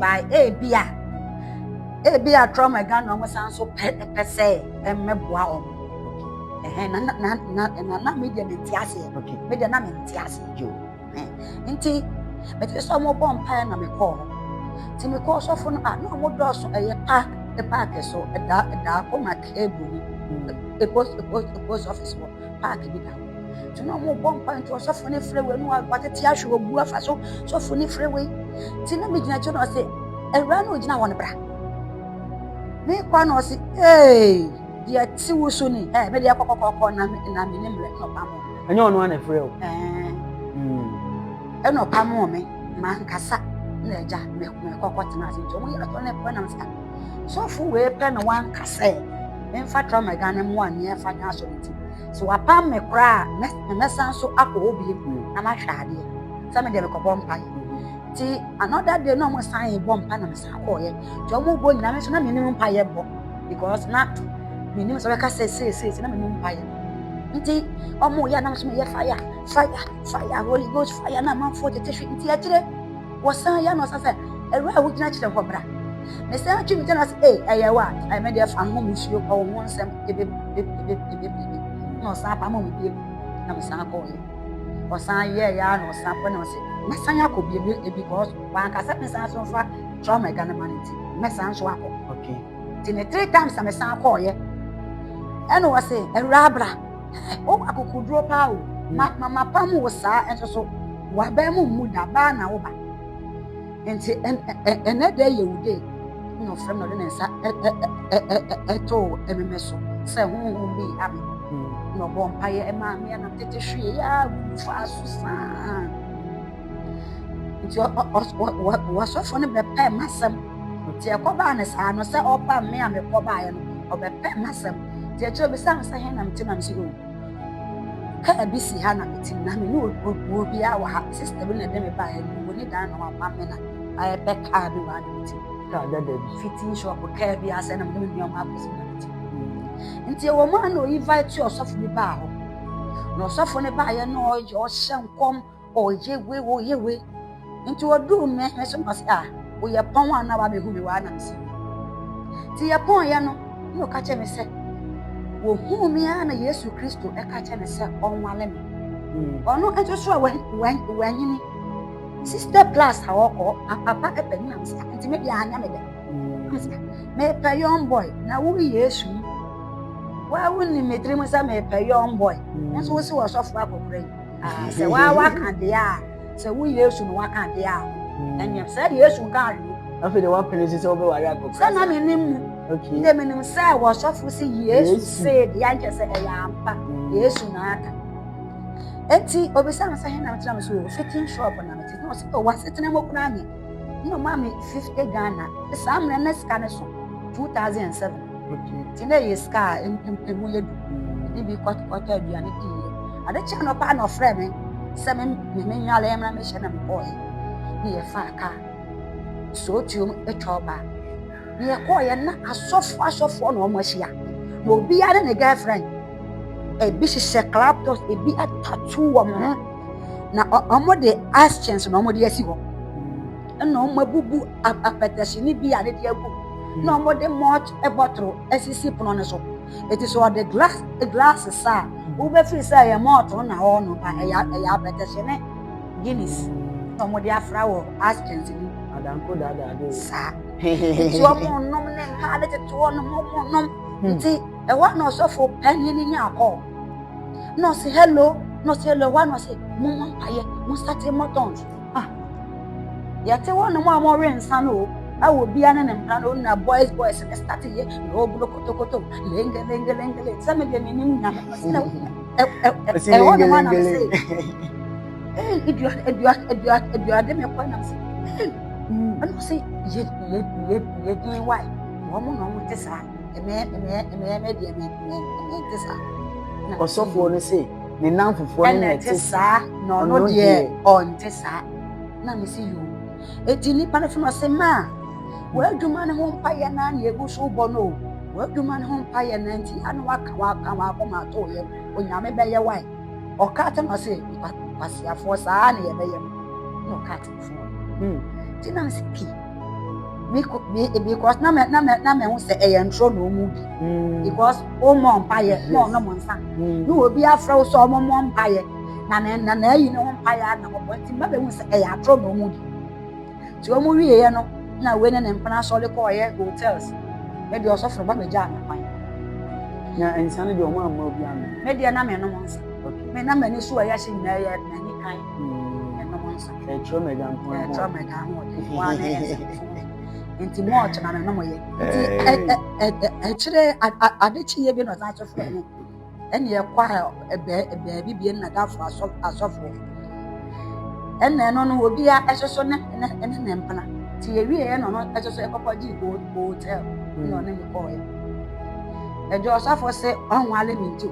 by ebi a ebi a trauma adwa na wɔn san so pɛ pɛ sɛ mmɛboa wɔn ɛhɛn na na na na na mi deɛ mi nti aseɛ mi deɛ na mi nti aseɛ jo nti mi ti sɛ wɔn bɔ mpaeɛ na mi kɔɔ hɔ ti mi kɔɔ sɔfo no a na wɔn dɔɔso ɛyɛ pa paaki so ɛda ɛda kɔma keebu mu post post post office wɔ. paaki bi da nti na ɔmo bɔ mpa nti ɔsɔfo ne frɛ wei no watete ahwɛ obu afa so sɔfo ne frɛ wei nti na megyina akyi na ɔse awura no ogyina hɔ no bra mekɔ na ɔse ee deɛ te wo so ni ɛ mede ɛkɔ kɔkɔkɔ na na me ne mmerɛ na ɔpam ɔmo ɛnyɛ ɔno ana frɛ o ɛna ɔpam ɔmo ma nkasa na ɛgya mekɔ kɔtena ase nti ɔmo yɛ atɔ na ɛkɔ nam sa Sɔfo wei pɛ na wanka sɛ memfa Tramaga no mmoa nyɛ ɛfa nyɛ asɔre ti. So wapam me koraa a, mɛsan so akɔ hɔ bio mm. na mahwɛ adeɛ. Sɛ me deɛ mekɔbɔ mpaeɛ. Mm-hmm. Ti another day na wɔn san bɔ mpa na me san kɔɔyɛ. Ti wɔn bɔ nyinaa nso na me nim mpaeɛ bɔ because na me nim sɛ wɔka sɛ seeseese na me nim mpaeɛ. Nti wɔn yɛ anam so meyɛ fire fire fire holy ghost fire na amanfoɔ tete hwi nti akyire. wɔsan yɛ no ɔsa sɛ awura a wogyina kyerɛ hɔ bra mesan atwe me gyana sɛ ee ɛyɛ wa ɛyɛ me deɛ fa ho mu suo kɔ wo ho nsɛm ebebebebebebe na ɔsan apamo me bie na mesan kɔɔyɛ ɔsan yɛ yɛ a na ɔsan kɔ na ɔsɛ mɛsan akɔ bie bi because wankasa mesan so mfa trauma ɛga ne ma no nti mɛsan so akɔ okay nti ne three times na mesan kɔɔyɛ ɛna ɔse awura abra wo akokoduro paa o mama pam wo saa nso so wabɛn mu mmu da baa na woba nti ɛnɛ dɛ yɛ wo dee na ɔfrɛ na ɔde ne nsa ɛtoo ɛmeme so sɛ honhom bi ame na ɔbɔ mpaeɛ ɛmaa me ɛna tete hwee yɛ a faa so saa nti wɔsɔfo no bɛpɛɛ m'asɛm nti ɛkɔbaa no saa no sɛ ɔba me a mekɔbaeɛ no ɔbɛpɛɛ m'asɛm nti akyerɛ bisa me sɛ he na mete na me sɛ o kaa bi si ha na mete na me ne obuo biara wɔ ha sista bi na ɛde me baeɛ no wɔ ne dan na wama me na ayɛ bɛ kaa bi wɔ ha na mete kaa dada bi fitin shop kaa bi asɛ na mene me nneɛma akɔsi na mete nti ɛwɔ mu a na ɔyi vai te ɔsɔfo bi baa hɔ na ɔsɔfo no baeɛ na ɔhyɛ nkɔm ɔyɛ we ɔyɛ we nti ɔduu me me so mase a woyɛ pɔn a na wabɛhu me waa nam si nti yɛ pɔn yɛ no na ɔka kyɛ me sɛ wɔhuu me a na yesu kristo ɛka kyɛ me sɛ ɔnwale me hmm. ɔno nso so a wanyini sister plus a ɔkɔ apapa ɛpɛ ne nam sɛ nti me deɛ anyɛ me dɛ hmm. mepɛ young boy na wo yesu waa wonim me tirim sɛ mepɛ young boy hmm. nso wo se wɔsɔfo akɔkorɛ yi Ah, sɛ waa waka deɛ a sɛ wo yesu no waka deɛ a hmm. ɛneɛ sɛ yesu nka ahwe afei de woapene si sɛ wobɛware akɔkora sɛ na menim mu nde menim sɛ wɔsɔfo si yesu see deɛ nkyɛ sɛ ɛyɛ ampa hmm. yesu na aka enti obisa me sɛ he na metena me so wɔ fitting shop na mete na ɔsɛ oh, wasetena mu kora nyɛ na ɔma me 50 ghana saa mmerɛ na sika no so 2007 Enti na ɛyɛ sika a mpempem yɛ du. Ne bi kɔtɔkɔtɔ aduane bi yɛ. Ade kyɛ no paa na ɔfrɛ me sɛ me me me nyale mmra me hyɛ na me kɔɔ. Ne yɛ fa ka. So tuom atwa ɔba. Ne yɛ kɔɔ yɛ na asɔfo asɔfo na ɔmo ahyia. Na obi ara ne girlfriend. Ebi hyehyɛ club tops, ebi atatu wɔn ho. Na ɔmo de actions na ɔmo de asi hɔ. na wɔabubu apɛtɛsi no bi a ne de agu mu na wɔde malt bɔtoro asisi pono no so eti sɛ ɔde glass glass sa a wobɛfiri sɛ ɛyɛ malt na ɔwɔ no ba ɛyɛ ɛyɛ apɛtɛsi ne guinness na wɔde afra wɔ askins mu adanko daadaa de saa nti wɔn nom ne mmaa ne tete wɔn nom wɔn nom nti ɛwɔ na ɔsɔfo panyin ne nya akɔ na ɔsi hello na ɔsi hello ɛwɔ na ɔsi mo mo mpaeɛ mo sati mo tɔn. Ah, yɛte hɔnom a wɔwe nsa no o ɛwɔ bia ne ne mmara no na boys boys ne start yɛ na ɔbulo kotokoto lenge lenge lenge lenge sɛ medeɛ menim nyame ɛhɔnom a na mesɛ aduade mekɔ nam sɛ ɛno sɛ yɛdin wae wɔn na wɔn te saa ɛmɛ ɛmɛ ɛmɛ ɛmɛ deɛ ɛmɛ ɛmɛ ɛmɛ te saa ɔsɔfoɔ no sɛ ne nnamfofoɔ no na ɛte saa na ɔno deɛ ɔnte saa na mesi yoo eti nipa no so no se maa w'adwuma no ho mpayɛ na na egu so bɔ no w'adwuma no ho mpayɛ na nti ano waka waka wakoma ato yɛ onyame bɛyɛ wae ɔka te no se kwasiafoɔ saa na yɛbɛyɛ no na ɔka te hmm. nti na sɛ pii because na mɛ na mɛ na mɛ ho sɛ ɛyɛ ntoro na ɔmo bi hmm. because ɔmo mpaeɛ na ɔno mo nsa hmm. na obi afrɛ wo sɛ ɔmo mo mpaeɛ na na na na ayi ne ho mpaeɛ ana mo bɔ nti mbɛbɛ ho sɛ ɛyɛ atoro na ɔmo bi nti ɔmo wie yɛ no na wei ne ne mpena asɔre kɔ ɔyɛ hotels mɛ deɛ ɔsɔforo ba mɛ gya ano kwan. na nsa no deɛ ɔmo ama obi ano. mɛ deɛ na mɛ nom nsa mɛ na mɛ ni so ɛyɛ se nyinaa yɛ mɛ ni kan. ɛnom nsa ɛkyerɛ mɛga nko ho ɛkyerɛ mɛga ho ɔde ho ara ne nsa nti mu ɔkyɛ na menom yɛ nti ɛkyerɛ ade kyeeɛ bi na ɔsan so frɛ me ɛne ɛkɔ a baabi bie na dafo asɔfo ɛna ɛno no obi a ɛsoso ne ne ne ne mpena nti ewie yɛ no no ɛsoso ɛkɔkɔ gye hotel ɛna ɔne me kɔɔ yɛ ɛdi ɔsɔfo se ɔnwale me nti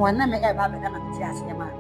ɔne me ɛba abɛda na me te aseɛ maa.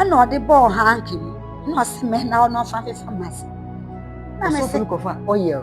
ɛna ɔde bɔɔ hanki no na ɔse mɛ na ɔno ɔfa me fa mase na me se kɔfa oil